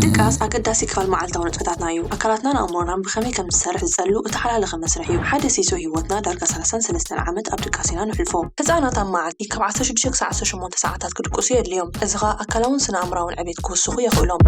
ድቃስ ኣገዳሲ ክፋል መዓልታዊ ንጥፈታትና እዩ። ኣካላትናን ኣእምሮናን ብኸመይ ከም ዝሰርሕ ዝጸሉ እተሓላለኸ መስርሕ እዩ። ሓደ ሲሶ ህይወትና፣ ዳርጋ ሰላሳን ሰለስተን ዓመት ኣብ ድቃስ ኢና ነሕልፎ። ህጻናት ኣብ መዓልቲ ካብ ዓሰርተ ሽዱሽተ ክሳዕ ዓሰርተ ሸሞንተ ሰዓታት ክድቅሱ የድልዮም፣ እዚ ኸኣ ኣካላውን ስነ-ኣእምሮኣውን ዕቤት ክውስኹ የኽእሎም።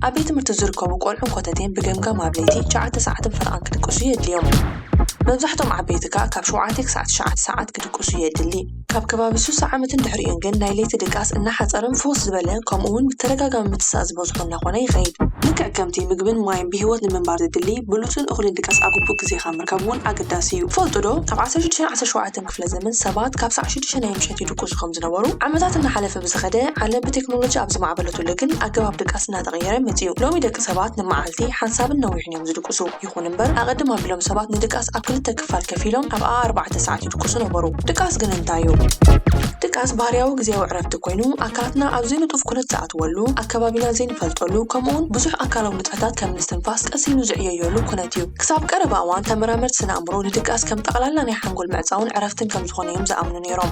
ኣብ ቤት ትምህርቲ ዝርከቡ ቈልዑን ኮተቴን ብገምጋም ኣብ ለይቲ ትሽዓተ ሰዓትን ፈረቓን ክድቅሱ የድልዮም። መብዛሕትኦም ዓበይቲ ከኣ ካብ ሸውዓተ ክሳዕ ትሽዓተ ሰዓት ክድቅሱ የድሊ። ካብ ከባቢ ሱሳ ዓመትን ድሕሪኡን ግን ናይ ለይቲ ድቃስ እናሓጸረን ፍኹስ ዝበለ ከምኡውን ብተደጋጋሚ ምትሳእ ዝበዝሖ እናኾነ ይኸይድ። ልክዕ ከምቲ ምግብን ማይን ብህይወት ንምንባር ዘድሊ፣ ብሉጽን እኹልን ድቃስ ኣብ ግቡእ ግዜኻ ምርካብ እውን ኣገዳሲ እዩ። ትፈልጡዶ ኣብ ዓሰርተ ሽዱሽተን ዓሰርተ ሸውዓተን ክፍለ ዘመን ሰባት ካብ ሰዓት ሽዱሽተ ናይ ምሸት ይድቁሱ ከም ዝነበሩ? ዓመታት እናሓለፈ ብዝኸደ፣ ዓለም ብቴክኖሎጂ ኣብ ዝማዕበለትሉ ግን ኣገባብ ድቃስ እናተቐየረ መጺኡ። ሎሚ ደቂ ሰባት ንመዓልቲ ሓንሳብን ነዊሕን እዮም ዝድቅሱ። ይኹን እምበር ኣቐድም ኣቢሎም ሰባት ንድቃስ ኣብ ክልተ ክፋል ከፊሎም ኣብኣ ኣርባዕተ ሰዓት ይድቅሱ። ይድቅሱ ነበሩ። ድቃስ ግን እንታይ እዩ? ድቃስ ባህርያዊ ግዜያዊ ዕረፍቲ ኮይኑ ኣካላትና ኣብ ዘይንጡፍ ኩነት ዝኣትወሉ፣ ኣከባቢና ዘይንፈልጠሉ ከምኡውን ብዙሕ ኣካላዊ ንጥፈታት ከም ምስትንፋስ ቀስ ኢሉ ዝዕየየሉ ኩነት እዩ። ክሳብ ቀረባ እዋን ተመራመርቲ ስነ ኣእምሮ ንድቃስ ከም ጠቕላላ ናይ ሓንጎል ምዕጻውን ዕረፍትን ከም ዝኾነ እዮም ዝኣምኑ ነይሮም።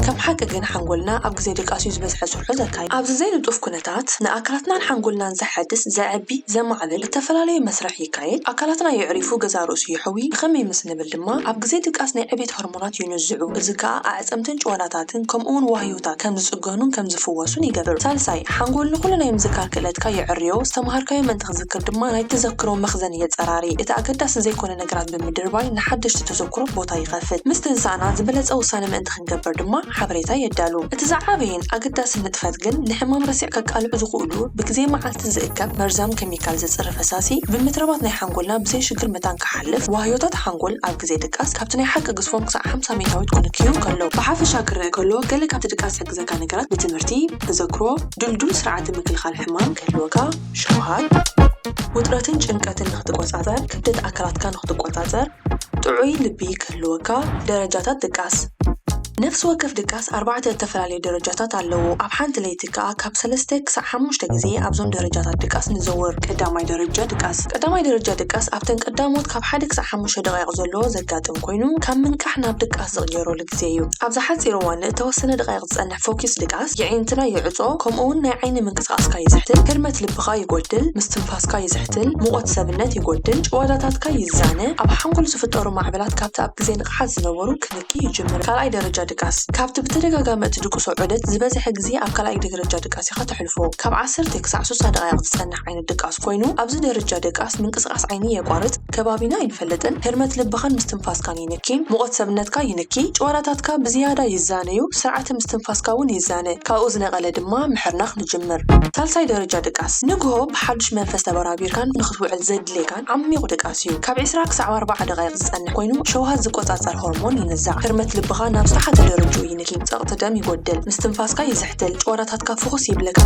ከም ሓቂ ግን ሓንጎልና ኣብ ግዜ ድቃስ እዩ ዝበዝሐ ስርሑ ዘካይድ። ኣብዚ ዘይንጡፍ ኩነታት ንኣካላትናን ሓንጎልናን ዘሐድስ፣ ዘዕቢ፣ ዘማዕብል እተፈላለየ መስርሕ ይካየድ፣ ኣካላትና የዕሪፉ ገዛእ ርእሱ ይሕዊ፣ ብኸመይ ምስ። ንብል ድማ ኣብ ግዜ ድቃስ ናይ ዕቤት ሆርሞናት ይንዝዑ፣ እዚ ከኣ ኣዕጽምትን ጭዋዳታትን ከምኡ'ውን ዋህዮታት ከም ዝጽገኑን ከም ዝፍወሱን ይገብር። ሳልሳይ፣ ሓንጎል ንኹሉ ናይ ምዝካር ክእለትካ የዐርዮ፣ ዝተመሃርካዮ ምእንቲ ክትዝክር ድማ ናይ ተዘክሮ መኽዘን የጸራሪ። እቲ ኣገዳሲ ዘይኮነ ነገራት ብምድርባይ ንሓደሽቲ ተዘክሮት ቦታ ይኸፍት። ምስ ተንሳእና ዝበለጸ ውሳነ ምእንቲ ክንገብር ድማ ሓበሬታ የዳሉ። እቲ ዝዓበየን ኣገዳስን ንጥፈት ግን ንሕማም ረሲዕ ከቃልዑ ዝኽእሉ ብግዜ መዓልቲ ዝእከብ መርዛም ኬሚካል ዘጽሪ ፈሳሲ ብ ምትራባት ናይ ሓንጎልና ብዘይ ሽግር መታን ክሓልፍ፣ ዋህዮታት ሓንጎል ኣብ ግዜ ድቃስ ካብቲ ናይ ሓቂ ግዝፎም ክሳዕ ሓምሳ ሚታዊት ክንክዩ ከለዉ። ብሓፈሻ ክረኣ ከሎ ገለ ካብቲ ድቃስ ዝሕግዘካ ነገራት ብትምህርቲ፣ ተዘክሮ፣ ድልዱል ስርዓተ ምክልኻል ሕማም ክህልወካ፣ ሸውሃት፣ ውጥረትን ጭንቀትን ንክትቆጻጸር፣ ክብደት ኣካላትካ ንክትቆጻጸር፣ ጥዑይ ልቢ ክህልወካ ደረጃታት ድቃስ። ነፍሲ ወከፍ ድቃስ ኣርባዕተ እተፈላለዩ ደረጃታት ኣለዎ፣ ኣብ ሓንቲ ለይቲ ከኣ ካብ ሰለስተ ክሳዕ ሓሙሽተ ግዜ ኣብዞም ደረጃታት ድቃስ ንዘውር። ቀዳማይ ደረጃ ድቃስ። ቀዳማይ ደረጃ ድቃስ ኣብተን ቀዳሞት ካብ ሓደ ክሳዕ ሓሙሽተ ደቓይቕ ዘሎ ዘጋጥም ኮይኑ፣ ካብ ምንቃሕ ናብ ድቃስ ዝቕየረሉ ግዜ። ግዜ እዩ። ኣብዛ ሓጺር እዋን ንእተወሰነ ደቓይቕ ዝጸንሕ ፈኲስ ድቃስ፣ የዒንትና ይዕጾ፣ ከምኡውን ናይ ዓይኒ ምንቅስቓስካ ይዝሕትል፣ ህርመት ልብኻ ይጎድል፣ ምስትንፋስካ ይዝሕትል፣ ሙቐት ሰብነት ይጎድል፣ ጭዋዳታትካ ይዛነ፣ ኣብ ሓንጎል ዝፍጠሩ ማዕበላት ካብቲ ኣብ ግዜ ንቕሓት ዝነበሩ ክንኪ ይጅምር። ካልኣይ ደረጃ ድቃስ፣ ካብቲ ብተደጋጋሚ እትድቅሶ ዑደት ዝበዝሐ ግዜ ኣብ ካልኣይ ደገረጃ ድቃስ ኢኻ ተሕልፎ። ካብ ዓሰርተ ክሳዕ ሱሳ ደቓይቕ ዝጸንሕ። ዓይነት ድቃስ ኮይኑ ኣብዚ ደረጃ ድቃስ ምንቅስቃስ ዓይኒ የቋርጽ ከባቢና ኣይንፈልጥን ህርመት ልብኻን ምስትንፋስካን ይንኪ ሙቐት ሰብነትካ ይንኪ ጭዋዳታትካ ብዝያዳ ይዛነዩ ስርዓተ ምስትንፋስካ ውን ይዛነ ካብኡ ዝነቐለ ድማ ምሕርናኽ ንጅምር ሳልሳይ ደረጃ ድቃስ ንግሆ ብሓዱሽ መንፈስ ተበራቢርካን ንኽትውዕል ዘድልየካን ዓሚቝ ድቃስ እዩ። ካብ ዕስራ ክሳዕ ኣርባዓ ደቓይቕ ዝጸንሕ ኮይኑ፣ ሸውሃት ዝቈጻጸር ሆርሞን ይንዛዕ። ህርመት ልብኻ ናብ ዝተሓተ ደረጅኡ ይንኪ። ጸቕጢ ደም ይጐድል። ምስትንፋስካ ይዝሕትል። ጭዋዳታትካ ፍዅስ ይብለካ።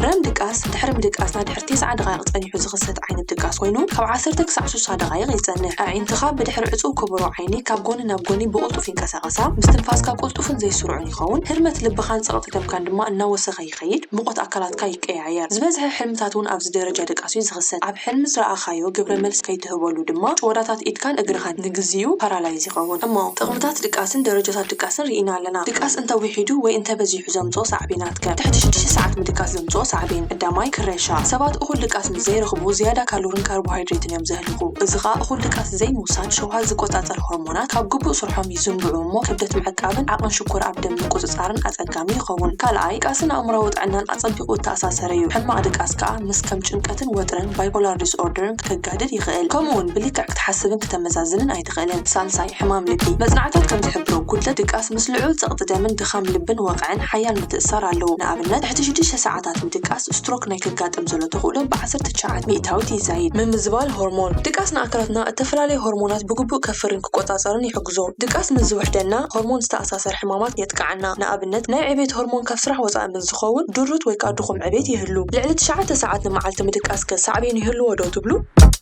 ረም ድቃስ፣ ድሕሪ ምድቃስ ናይ ድሕሪ ቴስዓ ደቓይቕ ጸኒሑ ዝኽሰት ዓይነት ድቃስ ኮይኑ፣ ካብ ዓሰርተ ክሳዕ ስሳ ደቓይቕ ይጸንሕ። ኣዒንትኻ ብድሕሪ ዕጹው ኩቡሮ ዓይኒ ካብ ጐኒ ናብ ጐኒ ብቕልጡፍ ይንቀሳቐሳ። ምስትንፋስካ ቅልጡፍን ዘይስሩዕን ይኸውን። ህርመት ልብኻን ጸቕጢ ደምካን ድማ እናወሰኸ ይኸይድ። ይኸይድ፣ ሙቐት ኣካላትካ ይቀያየር። ዝበዝሐ ሕልምታት እውን ኣብዚ ደረጃ ድቃስ እዩ ዝኽሰት። ኣብ ሕልሚ ዝረኣኻዮ ግብረ መልሲ ከይትህበሉ ድማ ጭወዳታት ኢድካን እግርኻን ንግዚኡ ፓራላይዝ ይኸውን። እሞ ጥቕምታት ድቃስን ደረጃታት ድቃስን ርኢና ኣለና። ድቃስ እንተ ዊሒዱ ወይ እንተ በዚሑ ዘምጽኦ ሳዕቤናት ከ? ትሕቲ ሽዱሽተ ሰዓት ምድቃስ ዘምጽኦ ሳዕቤን ቀዳማይ፣ ክረሻ። ሰባት እኹል ድቃስ ምስ ዘይረኽቡ ዝያዳ ካሎርን ካርቦሃይድሬትን እዮም ዘህልኹ። እዚ ከኣ እኹል ድቃስ ዘይምውሳድ ሸውሃት ዝቆጻጸር ሆርሞናት ካብ ግቡእ ስርሖም ይዝንብዑ እሞ ክብደት ምዕቃብን ዓቕን ሽኮር ኣብ ደም ምቁጽጻርን ኣጸጋሚ ኣድካሚ ይኸውን። ካልኣይ፣ ድቃስን ኣእምሮኣዊ ጥዕናን ኣጸቢቑ እተኣሳሰረ'ዩ። ሕማቕ ድቃስ ከኣ ምስ ከም ጭንቀትን ወጥርን፣ ባይፖላር ዲስኦርደርን፣ ከጋድድ ይኽእል። ከምኡ'ውን ብልክዕ ክትሓስብን ክተመዛዝንን ኣይትኽእልን። ሳልሳይ፣ ሕማም ልቢ። መጽናዕታት ከም ዝሕብሮ፣ ጕድለት ድቃስ ምስ ልዑል ጸቕጢ ደምን ድኻም ልብን ወቕዕን ሓያል ምትእስሳር ኣለዎ። ንኣብነት፣ ትሕቲ ሽዱሽተ ሰዓታት ምድቃስ፣ ስትሮክ ናይ ከጋጥም ዘሎ ተኽእሎ ብዓሰርተ ትሽዓተ ሚእታዊት ይዛይድ። ምምዝባል ሆርሞን። ድቃስ ንኣካላትና እተፈላለየ ሆርሞናት ብግቡእ ከፍሪን ክቈጻጸርን ይሕግዞ። ድቃስ ምስ ዝውሕደና፣ ሆርሞን ዝተኣሳሰረ፣ ዝኣሰር ሕማማት የጥቅዓና። ንኣብነት ናይ ዕቤት ሆርሞን ካብ ስራሕ ወጻኢ ምስ ዝኸውን ድሩት ወይ ከኣ ድኹም ዕቤት ይህሉ። ልዕሊ ትሽዓተ ሰዓት ንመዓልቲ ምድቃስከ ሳዕቤን ይህልዎ ዶ ትብሉ?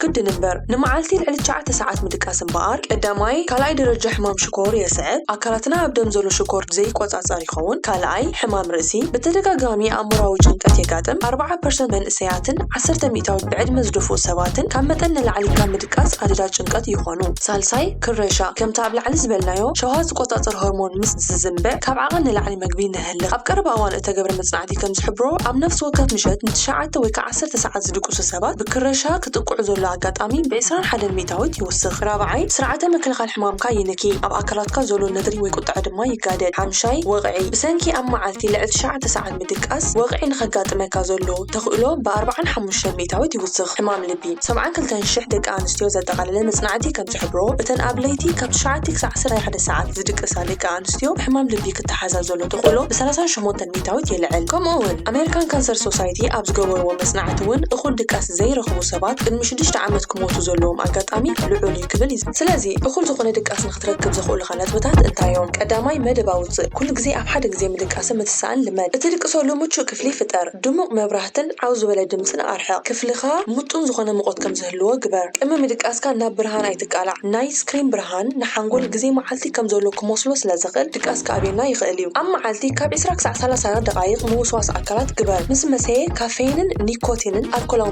ግድን እምበር! ንመዓልቲ ልዕሊ ትሽዓተ ሰዓት ምድቃስ እምበኣር ቀዳማይ፣ ካልኣይ ደረጃ ሕማም ሽኮር የስዕብ፣ ኣካላትና ኣብ ደም ዘሎ ሽኮር ዘይቆጻጸር ይኸውን፣ ካልኣይ፣ ሕማም ርእሲ፣ ብተደጋጋሚ ኣእምሮኣዊ ጭንቀት የጋጥም፣ ኣርብዓ ፐርሰንት መንእሰያትን ዓሰርተ ሚእታዊት ብዕድመ ዝደፍኡ ሰባትን ካብ መጠን ንላዕሊ ካብ ምድቃስ ኣደዳ ጭንቀት ይኾኑ። ይኾኑ። ሳልሳይ፣ ክረሻ፣ ከምቲ ኣብ ላዕሊ ዝበልናዮ፣ ሸውሃት ዝቆጻጸር ሆርሞን ምስ ዝዝንበዕ፣ ካብ ዓቐን ንላዕሊ መግቢ ነህልኽ። ኣብ ቀረባ እዋን እተገብረ መጽናዕቲ ከም ዝሕብሮ፣ ኣብ ነፍሲ ወከፍ ምሸት ንትሽዓተ ወይ ከኣ ዓሰርተ ሰዓት ዝድቅሱ ሰባት፣ ብክረሻ ክጥቅዑ ዘሎ ኣጋጣሚ ብዕስራን ሓደን ሚእታዊት ይውስኽ። ራብዓይ፣ ስርዓተ ምክልኻል ሕማምካ ይንኪ፣ ኣብ ኣካላትካ ዘሎ ነድሪ ወይ ቁጥዐ ድማ ይጋደድ። ሓምሻይ፣ ወቕዒ፣ ብሰንኪ ኣብ መዓልቲ ልዕሊ ትሽዓተ ሰዓት፣ ምድቃስ ወቕዒ ንኸጋጥመካ ዘሎ ተኽእሎ ብኣርብዓን ሓሙሽተን ሚእታዊት ይውስኽ። ሕማም ልቢ፣ ሰብዓን ክልተን ሽሕ ደቂ ኣንስትዮ ዘጠቓለለ መጽናዕቲ ከም ዝሕብሮ፣ እተን ኣብ ለይቲ ካብ ትሽዓተ ክሳዕ ዓሰርተ ሓደ ሰዓት ዝድቅሳ ደቂ ኣንስትዮ ብሕማም ልቢ ክተሓዛ ዘሎ ተኽእሎ ብሰላሳን ሸሞንተን ሚእታዊት የልዕል። ከምኡ'ውን ኣመሪካን ካንሰር ሶሳይቲ ኣብ ዝገበርዎ መጽናዕቲ እውን እኹል ድቃስ ዘይረኽቡ ሰባት ቅድሚ ሽዱሽተ ዓመት ክሞቱ ዘለዎም ኣጋጣሚ ልዑል እዩ ክብል ይዝቲ። ስለዚ እኹል ዝኾነ ድቃስ ክትረክብ ዘኽእሉኻ ነጥብታት እንታይ እዮም? ቀዳማይ፣ መደብ ኣውጽእ። ኩሉ ግዜ ኣብ ሓደ ግዜ ምድቃስን ምትሳእን ልመድ። እትድቅሰሉ ምቹእ ክፍሊ ፍጠር። ድሙቕ መብራህትን ዓው ዝበለ ድምጽን ኣርሕቕ። ክፍልኻ ምጡን ዝኾነ ሙቐት ከም ዝህልዎ ግበር። ቅድሚ ምድቃስካ ናብ ብርሃን ኣይትቃላዕ። ናይ ስክሪን ብርሃን ንሓንጎል ግዜ መዓልቲ ከም ዘሎ ክመስሎ ስለ ዘኽእል ድቃስ ክኣብየና ይኽእል እዩ። ኣብ መዓልቲ ካብ ዕስራ ክሳዕ ሰላሳ ደቓይቕ ምውስዋስ ኣካላት ግበር። ምስ መሰየ ካፌይንን ኒኮቲንን ኣልኮላዊ